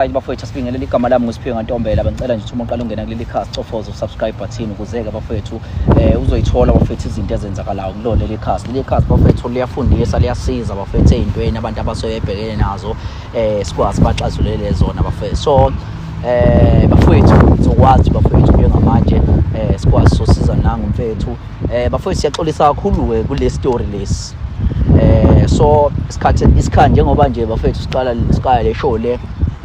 Hayi bafowethu asibingelele igama lami nguSiphiwe Ngantombela bengicela nje uma uqala ungena kuleli khasi cofoza usubscribe button ukuzeke bafowethu eh uzoyithola bafowethu izinto ezenzakalayo kulona leli khasi leli khasi bafowethu liyafundisa liyasiza bafowethu ezintweni abantu abasoyebhekene nazo eh sikwazi baxazulele zona bafowethu so eh bafowethu sizokwazi bafowethu njengamanje eh sikwazi sosiza nangu mfethu Eh bafowethu siyaxolisa kakhulu ke kule story lesi. Eh so isikhathi isikhathi njengoba nje bafowethu siqala siqala le show le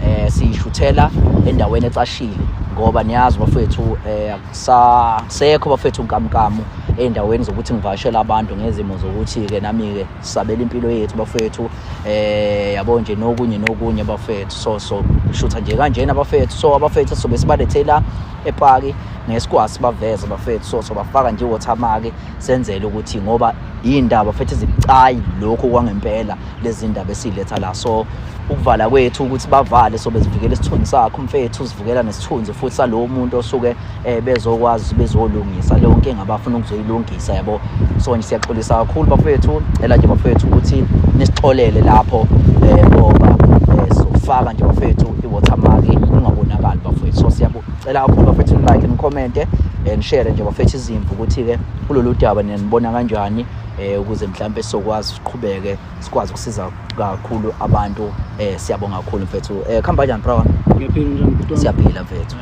eh siyishuthela endaweni ecashile ngoba niyazi bafowethu eh akusasekho bafowethu nkamkamu endaweni zokuthi ngivashela abantu ngezimo zokuthi ke nami ke sabela impilo yethu bafethu eh yabo nje nokunye nokunye bafethu so so shutha nje kanjena bafethu so abafethu sobe sibalethela epaki ngesikwazi baveze bafethu so so bafaka nje watermark senzele ukuthi ngoba indaba futhi zibucayi lokho kwangempela lezi ndaba esiletha la so ukuvala kwethu ukuthi bavale so bezivikela isithunzi sakho mfethu uzivikela nesithunzi futhi salowo muntu osuke eh bezokwazi bezolungisa leyo nkinga abafuna ukuzoyilungisa yabo so nje siyaxolisa kakhulu bafethu cela nje bafethu ukuthi nisixolele lapho eh ngoba eh, sofaka nje bafethu i-watermark ingabonakali bafethu so siyabucela kakhulu bafethu like nicommente eh, nishare nje bafethu izimvu ukuthi-ke kulolu daba ninibona kanjani um ukuze mhlawumpe sizokwazi siqhubeke sikwazi ukusiza kakhulu abantu eh siyabonga kakhulu mfethu eh khamba kanjani bro ngiyaphila njani bhuti siyaphila mfethu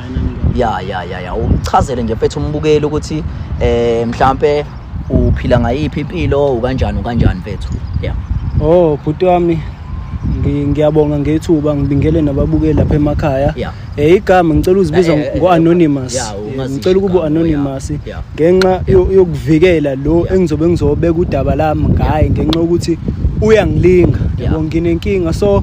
ya ya ya ya uchazele nje mfethu umbukeli ukuthi eh mhlambe uphila ngayiphi impilo ukanjani ukanjani mfethu yeah oh bhuti wami ngiyabonga ngethuba ngibingele nababukeli lapha emakhaya yeah. Eh igama ngicela uzibiza eh, eh, ngo anonymous. Eh, ngicela ukuba anonymous ngenxa yokuvikela lo engizobe ngizobeka udaba lami ngaye ngenxa ukuthi uyangilinga. Yabo nginenkinga so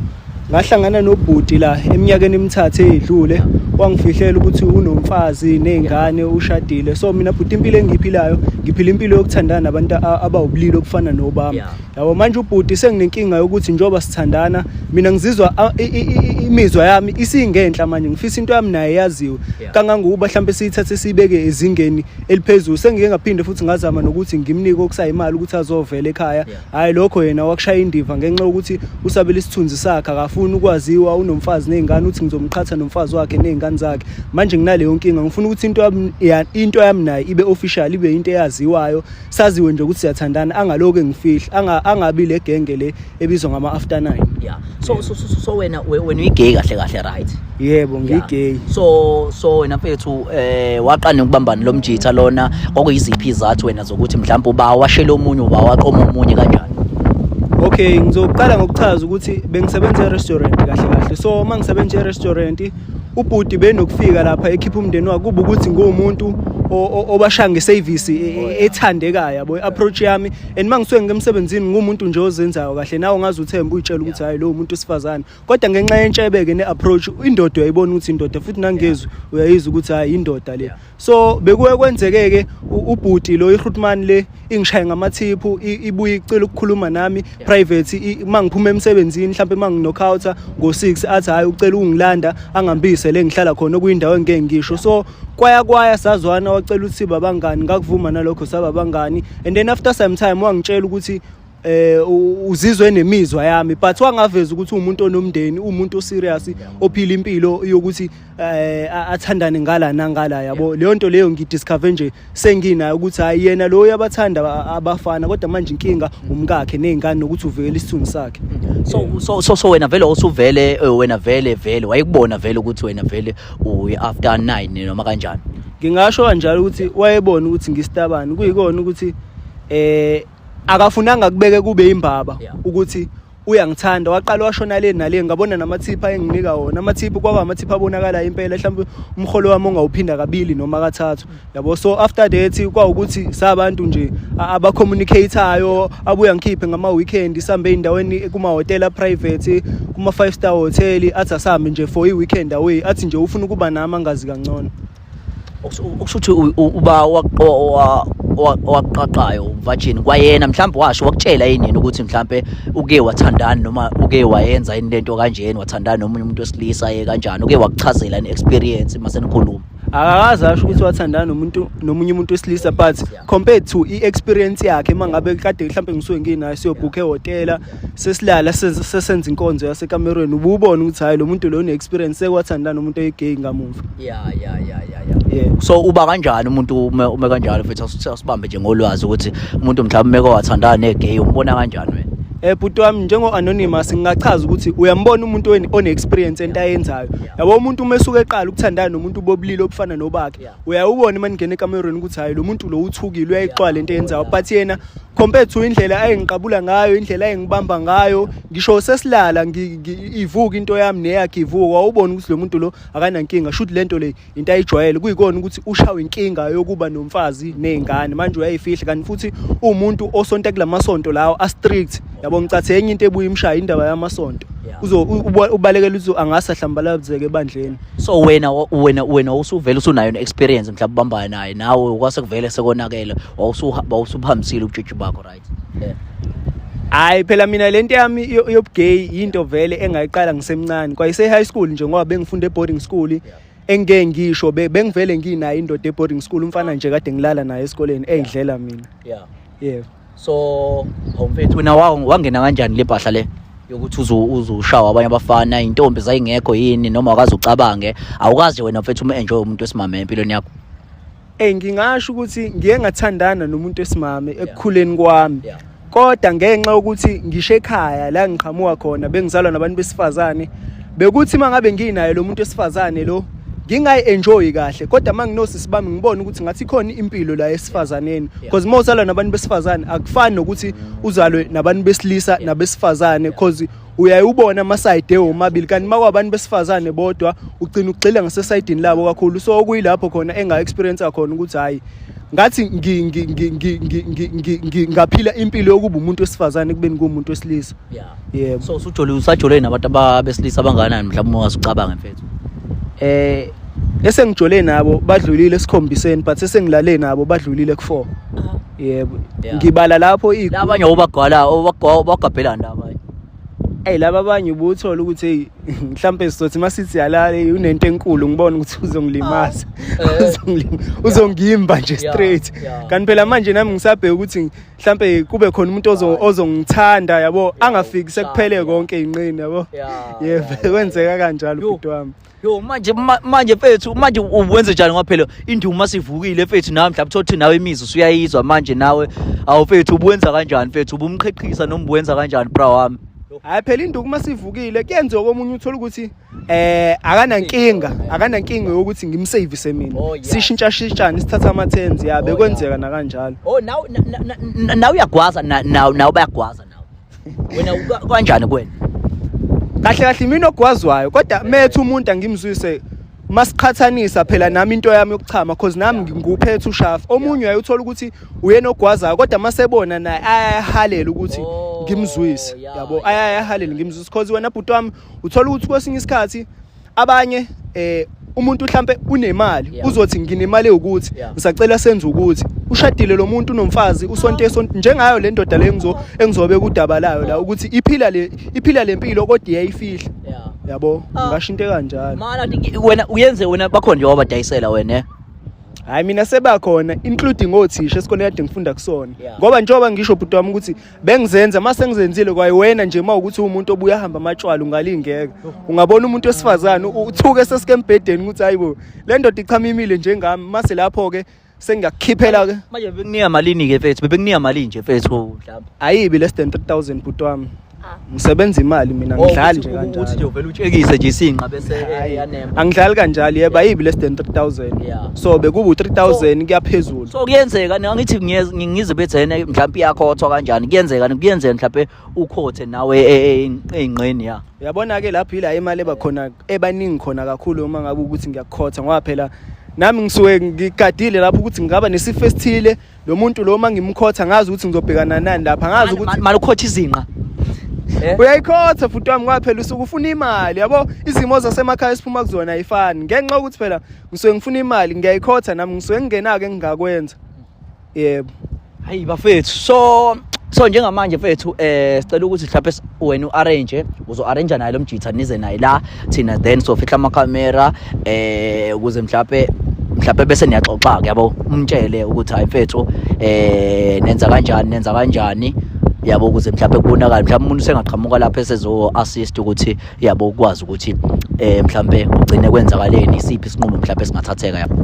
ngahlangana nobhuti la eminyakeni emithathu edlule wangifihlela ukuthi unomfazi nezingane ushadile so mina bhuti impilo engiyiphilayo ngiphila impilo yokuthandana nabantu abawubulili okufana nobami yabo manje ubhuti senginenkinga yokuthi njengoba sithandana mina ngizizwa imizwa yami isingenhla manje ngifisa into yami naye yaziwe kangangokuba mhlawumbe siyithathe siyibeke ezingeni eliphezulu sengike ngaphinde futhi ngazama nokuthi ngimnike okusayimali ukuthi azovela ekhaya hhayi lokho yena wakushaya indiva ngenxa yokuthi usabela isithunzi sakhe akafuni ukwaziwa unomfazi ney'ngane uthi ngizomqhatha nomfazi wakhe ney'ngane zakhe manje nginaleyo nkinga ngifuna ukuthi into yami naye ibe official ibe yinto eyaziwayo saziwe nje ukuthi siyathandana angaloku engifihla anga angabi le genge le ebizwa ngama after 9 yeah so so so, so wena wena uyigay kahle kahle right yebo ngigay so so wena mfethu eh waqane ukubambana lomjitha lona kwakuyiziphi izathu wena zokuthi mhlawumbe uba washela omunye uba waqoma omunye kanjani okay ngizoqala ngokuchaza ukuthi bengisebenza e-restaurant kahle kahle so uma ngisebenza e-restaurant ubhuti benokufika lapha ekhipha umndeni wakhe kuba ukuthi nguwumuntu obashaya ngesevisi e, e, oh, ethandekayo yabo i-approach yami and uma ngisuke ngemsebenzini ngumuntu nje ozenzayo kahle nawe ngaze uthemba uyitshela ukuthi hhayi lowo muntu usifazane kodwa ngenxa yentshebeke ne-approach indoda uyayibona ukuthi indoda futhi nangezwi uyayizwa ukuthi hhayi indoda le so bekuye kwenzeke-ke ubhuti lo irutman le ingishaye ngamathiphu ibuye icela ukukhuluma nami private uma ngiphuma emsebenzini mhlawumpe uma nginokhawutha ngo-six athi hhayi ucela ungilanda angambise le ngihlala khona okuyindawo engike ngisho so kwaya kwaya sazwana wacela ukuthi babangani ngakuvuma nalokho sababangani and then after some time wangitshela ukuthi eh uzizwe nemizwa yami but wangaveza ukuthi umuntu onomndeni umuntu oserious ophila impilo yokuthi eh athandane ngala nangala yabo leyo nto leyo ngidiscover nje senginayo ukuthi hayi yena lo uyabathanda abafana kodwa manje inkinga umkakhe nezingane nokuthi uvikela isithunzi sakhe so so so, so wena vele osuvele eh, wena vele vele wayekubona vele ukuthi wena vele uyi after 9 noma kanjani ngingasho kanjalo ukuthi wayebona ukuthi ngistabani kuyikona ukuthi eh akafunanga kubeke kube imbaba yeah. ukuthi uyangithanda waqala washona le nale ngabona namathipha enginika wona amathipha kwaba amathipha abonakala impela mhlawumbe umholo wami ongawuphinda kabili noma kathathu yabo so after that kwa ukuthi sabantu nje aba communicateayo abuya ngikhiphe ngama weekend sambe indaweni kuma hotel private kuma five star hotel athi asambe nje for i weekend away athi nje ufuna ukuba nami angazi kangcono okusho ukuthi uba owaqaqayo umvajini kwayena mhlawumbe washo wakutshela yini yena ukuthi mhlawumbe uke wathandani noma uke wayenza yini lento kanjeni wathandani nomunye umuntu wesilisa ye kanjani uke wakuchazela ni experience mase nikhuluma akakaze asho ukuthi wathandana nomuntu nomunye umuntu wesilisa but compared to i-experience yakhe uma ngabe kade mhlawumbe ngisuke nginayo siyobhukha ehhotela sesilala sesenza inkonzo yasekamerweni ububona ukuthi hayi lo muntu lo une-experience sekwathandana nomuntu oyigay ngamuva ya ya ya ya ya yeah. so uba kanjani umuntu ume, ume kanjalo futhi asibambe nje ngolwazi ukuthi umuntu mhlawumbe meko wathandana negay umbona kanjani wena eh bhuti wami njengo-anonymous ngingachaza ukuthi uyambona umuntu one-experience ento ayenzayo yabo umuntu uma esuke eqala ukuthandana nomuntu bobulili obufana nobakhe uyawubona uma ningena ekamerweni ukuthi hhayi lo muntu lo uthukile uyayixwala into eyenzayo but yena compare to indlela ayengiqabula ngayo indlela ayengibamba ngayo ngisho sesilala ivuka into yami neyakhe ivuka wawubona ukuthi lo muntu lo akanankinga shuthi le nto le into ayijwayele kuyikona ukuthi ushawe inkinga yokuba nomfazi nezingane manje uyayifihla kanti futhi uwumuntu osonta kula masonto lawo astrict yabo ngicathe enye into ebuye imshaya indaba yamasonto uzo ubalekela uthi angase ahlambalazeke ebandleni so wena wena wena usuvela usunayo ne experience mhlawumbe ubambana naye nawe kwase kuvele sekonakele wawusuphambisile ubutshitshi bakho right yeah. hayi phela mina le nto yami yobugay yinto vele engayiqala ngisemncane kwayise-high school nje ngoba bengifunde e-boarding school yeah. engike ngisho bengivele nginayo indoda e-boarding school umfana nje kade ngilala naye esikoleni eyidlela mina yeah. yeah. so homfethu wena wangena kanjani le bhahla le yokuthi uzushawa abanye abafana intombi zayingekho yini noma wakazi ucabange awukazi wena mfethu ume-enjoy umuntu wesimame empilweni yakho Eh ngingasho ukuthi ngiye ngathandana nomuntu esimame ekukhuleni kwami. Yeah. Kodwa ngenxa ukuthi ngisho ekhaya la ngiqhamuka khona bengizalwa nabantu besifazane bekuthi mangabe nginaye lo muntu esifazane lo ngingayi enjoy kahle kodwa manginosisi bami ngibona ukuthi ngathi khona impilo la esifazaneni because mawusala nabantu besifazane akufani nokuthi uzalwe nabantu besilisa nabesifazane because uyayubona amasayide womabili kanti uma kwabantu besifazane bodwa ugcina ugxila ngasesayidini labo kakhulu so okuyilapho khona enga-experience khona ukuthi hhayi ngathi ngaphila impilo yokuba umuntu wesifazane kubeni kuwumuntu wesilisa yebo so usujole usajole nabantu abesilisa abanganani mhlawumbe ungasucabanga mfethu eh esengijole nabo badlulile esikhombiseni but esengilale nabo badlulile ku-four yebo Yeah. ngibala lapho i- la abanye obagwala obagabhelani la abanye eyi laba abanye ubuthole ukuthi eyi mhlawumpe sizothi uma sithi yalala eyi, unento enkulu ngibona ukuthi uzongilimaza Oh. Eh. Uzongilima- uzongimba nje Yeah, straight yeah. kanti phela manje nami ngisabheke ukuthi mhlawumpe kube khona umuntu ozo- Right. ozongithanda yabo angafiki sekuphele Yeah. konke inqini yabo Yeah, yebo yeah, yeah, kwenzeka kanjalo Yo. ubhuti wami Yo manje ma- manje fethu manje u- wenze njani ngoba phela induma sivukile fethu nawe mhlawumbe thothi nawe imizwa usuyayizwa manje nawe awu fethu ubuwenza kanjani fethu ubumqheqhisa noma ubuwenza kanjani bra wami hayi phela induku uma sivukile kuyenzeka komunye uthole ukuthi eh akanankinga akanankinga yokuthi ngimsavise mina Oh, yeah. sishintshashintshane sithatha ama-tens ya Oh, bekwenzeka nakanjalo Oh now now now uyagwaza now now bayagwaza wena kanjani kuwena kahle kahle mina ogwazwayo kodwa methu umuntu angimzwise masiqhathanisa phela nami into yami yokuchama cause nami ngikuphethe ushafu omunye uyayithola ukuthi uyena ogwazayo kodwa masebona naye ayahalela ukuthi oh, ngimzwise yabo ayahalela ngimzwise cause wena bhuti wami uthola ukuthi kwesinye isikhathi abanye eh umuntu mhlambe unemali yeah. uzothi nginemali ukuthi yeah. ngisacela senze ukuthi ushadile lo muntu unomfazi usonto esonto njengayo le ndoda le ngizo engizobe kudaba layo la ukuthi iphila le iphila lempilo kodwa iyayifihla yeah. yabo ah. ngasho into kanjalo mana wena uyenze wena bakho nje wabadayisela wena eh? hayi mina sebakhona including othisha esikoleni kade ngifunda kusona ngoba njengoba ngisho bhuti wami ukuthi bengizenza uma sengizenzile kwayewena nje uma ukuthi umuntu obuya hamba amatshwala ungalingeka ungabona umuntu wesifazane uthuke sesikembhedeni ukuthi hayibo le ndoda ichamimile njengami mase lapho-ke sengiyakukhiphela ke manje bekunika malini ke mfethu bebekunika malini nje mfethu mhlawumbe ayibi less than 3000 bhuti wami ngisebenza imali mina oh, ngidlali nje kanjalo ukuthi nje uvela utshekise nje isinqa bese eyanema angidlali kanjalo yebo ayibi less than 3000 so bekuba u3000 kuyaphezulu so kuyenzeka ngithi ngize bethi yena mhlawumbe iyakhothwa kanjani kuyenzeka kuyenzeka mhlawumbe ukhothe nawe e, e, eingqeni ya yabona ke lapho ila imali eba khona ebaningi khona kakhulu uma ngabe ukuthi ngiyakhotha ngoba phela nami ngisuke ngikadile lapho ukuthi ngingaba nesifo esithile lo muntu lo uma ngimkhotha ngazi ukuthi ngizobhekana nani lapha ngazi ukuthi mali ukhotha izinqa eh? uyayikhotha futhi wami kwaphela usuke ufuna imali yabo izimo zasemakhaya esiphuma kuzona ayifani ngenxa ukuthi phela ngisuke ngifuna imali ngiyayikhotha nami ngisuke ngingenake engingakwenza yebo hayi bafethu so so njengamanje mfethu eh sicela ukuthi mhlawumbe wena u-arrange uzo-arrange naye lo mjitha nize naye la thina then sofihla amakhamera eh ukuze mhlawumbe mhlawumbe bese niyaxoxa-ke yabo umtshele ukuthi hayi mfethu eh nenza kanjani nenza kanjani yabo ukuze mhlawumbe kubonakale mhlawumbe umuntu usengaqhamuka lapho esezo-assist ukuthi yabo ukwazi ukuthi eh mhlawumbe ugcine kwenzakaleni isiphi isinqumo mhlawumbe singathatheka yabo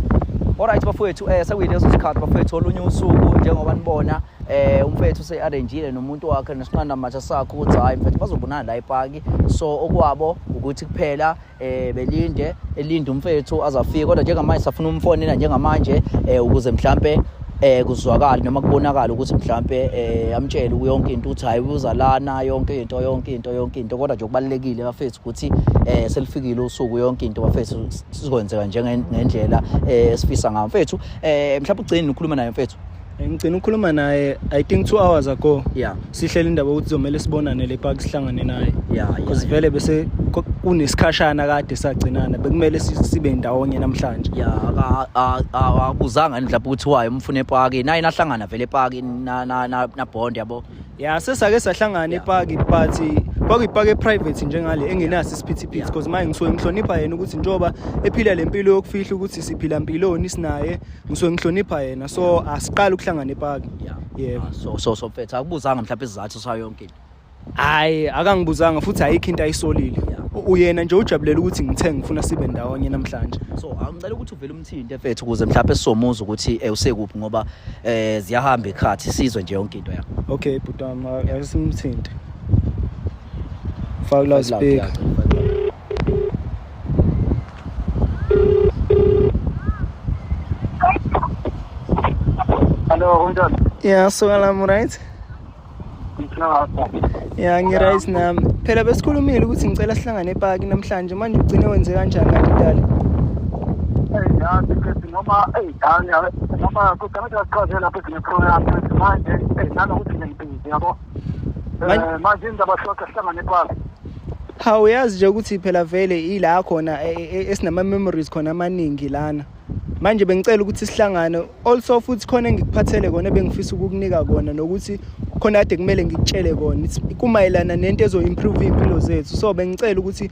Alright bafowethu eh sekuyileso sikhathi bafowethu olunye usuku njengoba nibona eh umfethu usearrangeile nomuntu wakhe nesinqanda matha sakho ukuthi hayi mfethu bazobonana la epaki so okwabo ukuthi kuphela eh belinde elinde umfethu azafika kodwa njengamanje safuna umfonela njengamanje eh ukuze mhlambe eh kuzwakala noma kubonakala ukuthi mhlambe eh amtshele uyonke into uthi hayi uza lana yonke into yonke into yonke into kodwa nje kubalekile bafethu ukuthi eh selifikile usuku yonke into bafethu sizokwenzeka njengendlela eh sifisa ngayo mfethu eh mhlawumbe ugcine ukhuluma naye mfethu ngigcina ukukhuluma naye i think two hours ago yeah sihlele indaba ukuthi zomele sibonane le park sihlangane naye yeah because vele bese kunesikhashana kade sagcinana bekumele sibe ndawonye namhlanje yeah akuzanga nje lapho ukuthi waye umfuna epaki naye nahlangana vele epaki na na na bond yabo yeah sesake sahlangana epaki but kwakuyipaka eprivate njengale engenaso isiphithiphithi because manje ngisuke ngihlonipha yena ukuthi njengoba ephila le mpilo yokufihla ukuthi siphila mpiloni sinaye ngisuke ngihlonipha yena so asiqali ukuhlangana epaki yebo ah, so so so mfethu akubuzanga mhlawumbe isizathu sayo yonke into hayi akangibuzanga futhi ayikho into ayisolile uyena nje ujabulela ukuthi ngithe ngifuna sibe ndawonye namhlanje so angicela ukuthi uvele umthinte mfethu ukuze mhlawumbe sizomuza ukuthi eh, usekuphi ngoba eh ziyahamba ikhathi sizwe nje yonke into yakho okay bhuti wami asimthinte faka la speaker Hello, unjani? Yeah, so I'm right. ya ngi-right nami phela besikhulumile ukuthi ngicela sihlangane epaki namhlanje manje ugcine wenze kanjani kanti dali noma eyi dani noma kude ngithi asiqhaze lapho ezinye program manje nanokuthi ngempili yabo Eh, manje indaba short ahlangane kwazo ha uyazi nje ukuthi phela vele ila khona e, e, e, esinama memories khona amaningi lana manje bengicela ukuthi sihlangane also futhi khona engikuphathele kona bengifisa ukukunika kona nokuthi khona kade kumele ngikutshele kona kumayelana nento ezo-improve iy'mpilo zethu so bengicela ukuthi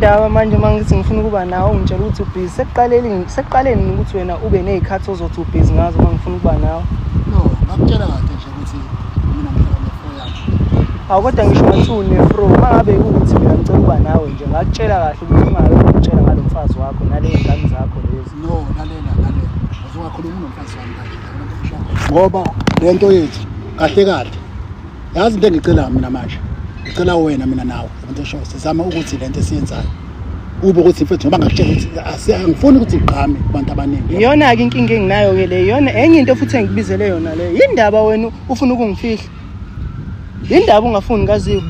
indaba manje uma ngithi ngifuna ukuba nawe ungitshela ukuthi ubhizi sekuqalelini sekuqaleni ukuthi wena ube nezikhathi ozothi ubhizi ngazo uma ngifuna ukuba nawe no ngakutshela kahle nje ukuthi mina ngifuna nefro yakho awu kodwa ngisho ngathi unefro uma ngabe ukuthi mina ngicela ukuba nawe nje ngakutshela kahle ukuthi ungabe ungitshela ngalo mfazi wakho naley'ngane zakho lezi no lalela lalela uzongakhuluma unomfazi wami kanje ngoba le nto yethu kahle kahle yazi into engicela mina manje ngicela wena mina nawe abantu eshoyo sizama ukuthi le nto esiyenzayo ube ukuthi mfethu ngoba ngakutshela ukuthi angifuni ukuthi igqame kubantu abaningi iyona-ke inkinga enginayo-ke le iyona enye into futhi engikubizele yona leyo yindaba wena ufuna ukungifihla yindaba ungafuni kaziwe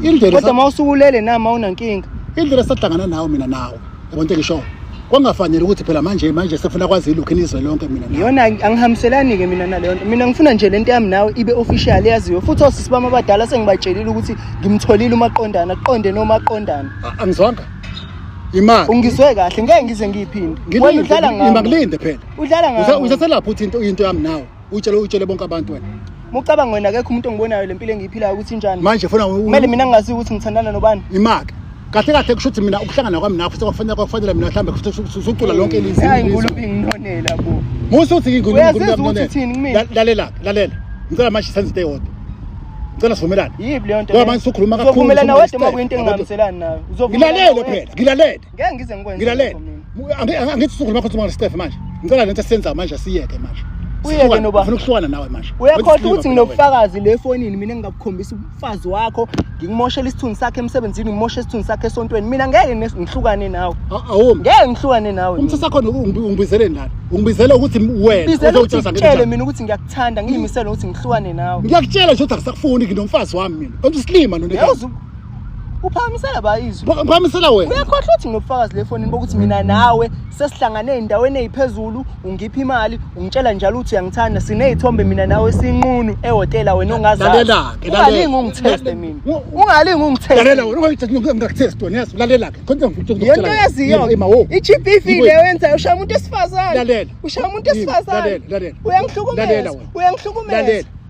indlela kodwa uma usukulele nama unankinga indlela sahlangana nawe mina nawe yabona into engishoyo kwangafanele ukuthi phela manje manje sefuna kwazi ilokhu inizwe lonke mina nawe. yona angi- angihambiselani-ke mina naleyo nto mina ngifuna nje le nto yami nawe ibe official yaziwe futhi osisi bami abadala sengibatshelile ukuthi ngimtholile umaqondana kuqonde nomaqondana A- angizwanga imali ungizwe kahle ngeke ngize ngiyiphinde wena udlala ngami ngilinde phela udlala Usa- ngami usaselapha uthi into into yami nawe utshele utshele bonke abantu wena mucabanga wena akekho umuntu ongibonayo le mpilo engiyiphilayo ukuthi injani manje funa kumele mina ngingazi ukuthi ngithandana nobani imake kahle kahle kusho ukuthi mina ukuhlangana kwami nakho sekwafanele kwakufanele mina mhlawumbe futhi usucula lonke ilizwi hayi ngulu inginonela bo musu uthi ngulu inginonela lalela lalela ngicela manje senze into eyodwa ngicela sivumelane yibi leyo nto ngoba manje usukhuluma kakhulu uvumelana wedwa uma kuyinto engingamiselani nayo uzovumelana ngilalele phela ngilalele ngeke ngize ngikwenze ngilalele angithi suku ngakho uthuma ngesitefe manje ngicela lento senza manje siyeke manje uyeke noba ufuna ukuhlukana nawe manje uyakhohlwa ukuthi nginobufakazi le fonini mina ngingakukhombisa umfazi wakho ngikumoshela isithunzi sakhe emsebenzini ngimoshe isithunzi sakhe esontweni mina ngeke ngihlukane nawe awu ngeke ngihlukane nawe umthetho wakho ungibizeleni lana ungibizela ukuthi wena uzowutshela ngitshele mina ukuthi ngiyakuthanda ngiyimisela ukuthi ngihlukane nawe ngiyakutshela nje ukuthi akusakufuni nginomfazi wami mina konje isilima nonike uphakamisela bayizwe Pha- phakamisela wena uyakhohlwa ukuthi nginobufakazi le fonini bokuthi mina nawe sesihlangane ey'ndaweni ey'phezulu ungipha imali ungitshela njalo ukuthi uyangithanda siney'thombe mina nawe sinqunu ehhotela wena ongazazi Lalela-ke, lalela. ungalingi ungitheste mina Wo- ungalingi lalela ungitheste wena ungakuthesti wena yes lalela-ke khona yento yaziyo imawo i-gb Iwe. leyo yenzayo ushaya umuntu wesifazane Lalela. ushaya umuntu Yini? wesifazane Lalela, lalela. Lalela uyangihlukumeza wena. uyangihlukumeza Lalela.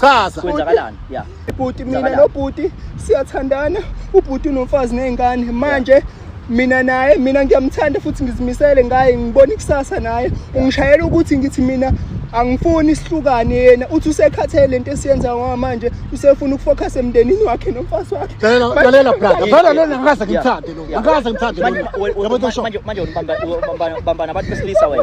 chaza kwenzakalani ya ibhuti mina Ngicabanga. nobhuti siyathandana ubhuti unomfazi nezingane manje mina naye mina ngiyamthanda futhi ngizimisele ngaye ngibona ikusasa naye ungishayela ukuthi ngithi mina angifuni sihlukane yena uthi usekhathele lento esiyenza ngoba manje usefuna ukufocus emndenini wakhe nomfazi wakhe lalela Manje- lalela brother vele lona ngikaze ngimthande lo ngikaze ngimthande Manje- lo we- we- yabo into manje- oshona manje- manje ubamba- ubamba- ubamba nabantu besilisa wena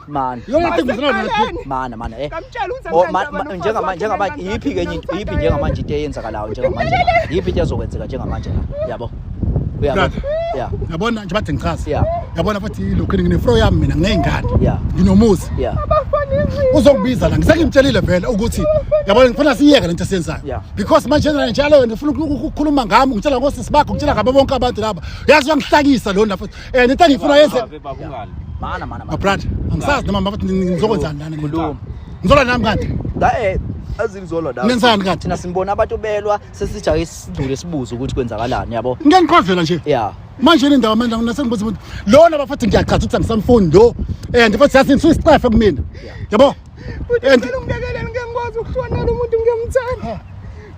Mana. Yona tengizana nathi. Mana mana eh. Kamtshela uze Oh, ma- ma- njengama- njengama- iyiphi ke enye into- iyiphi njengamanje into eyenzakalayo njengamanje iyiphi into ezokwenzeka njengamanje la yabo uyabo Brother. ya Yabona nje bathi ngichaza. Yeah. Yabona futhi lokho nginefro yami mina nginezingane. Yeah. Nginomuzi. ya Uzokubiza la ngisengimtshelile vele ukuthi yabona ngifuna siyeke lento esiyenzayo. Yeah. Because manje nje njalo wena ufuna uku- ukukhuluma ngami ngitshela ngosisi bakho ngitshela ngabo bonke abantu laba. Yazi wangihlakisa lona futhi. Eh nento engifuna yenze Babe baba ungali. Mana mana mana. mabrother angisazi noma mbabathi ngizokwenzani lana Khuluma. ngizola nami kanti Dae azingizolwa dawo. nenzani kanti Thina simbona abantu belwa sesija isidule sibuze ukuthi kwenzakalani yabo. ngeke ngiqhwazela nje Yeah. manje le ndawo manje ngina sengibuza ukuthi lona bafathi ngiyachaza ukuthi angisamfuni lo and futhi yasinisa isicefe kumina yabo and Ngibekele ngeke ngikwazi ukuhlonela umuntu ngiyamthanda.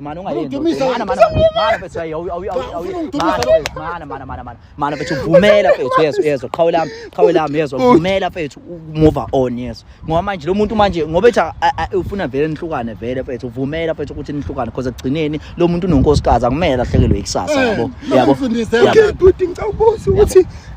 Mana ungayenzi. Mana mana mana bese ayi awu awu awu. Mana mana mana mana. Mana bese uvumela mfethu yeso yeso qhawe lami qhawe lami yeso uvumela mfethu move on yeso. Ngoba manje lo muntu manje ngoba ethi ufuna vele nihlukane vele mfethu uvumela mfethu ukuthi nihlukane because ekugcineni lo muntu unonkosikazi akumele ahlekelwe ikusasa yabo. Yabo. Yabo. Ngicabuzisa ukuthi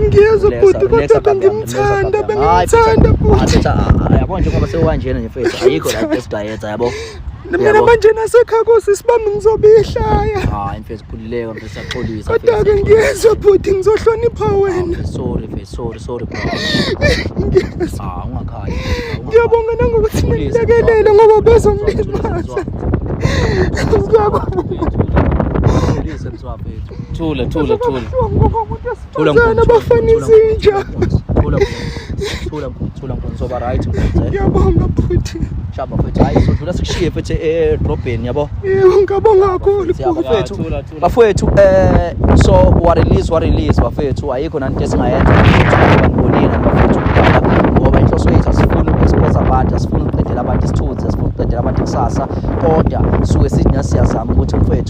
ngiyezwa bhuti kodwa bengimthanda bengimthanda bhuti yabo njengoba sekukanjena nje mfethu ayikho la esibhayethi yabo mina manje nasekhaya kosi sibambe ngizobihlaya hayi mfethu khulileka mfethu saxolisa kodwa-ke ngiyezwa bhuti ngizohlonipha ah, wena sorry mfethu sorry sorry bro ngiyezwa ah, ungakhali ngiyabonga nangokuthi ngilekelele ngoba bezongilimaza ngiyabonga Thula thula thula. Thula mkhulu. Abafana izinja. Thula mkhulu. Thula mkhulu. Thula mkhulu. Soba right mkhulu. Ngiyabonga futhi. Shaba futhi hayi sodlula sikushiye futhi edrobheni yabo. Yebo ngabonga kakhulu bafethu. Bafethu eh so wa release wa release bafethu ayikho nanto esingayenza ngibonile bafethu ngoba inhloso yethu asifuni ukusipheza abantu asifuni ukuqedela abantu isithunzi asifuni ukuqedela abantu ikusasa kodwa suke sithi nasi siyazama ukuthi mfethu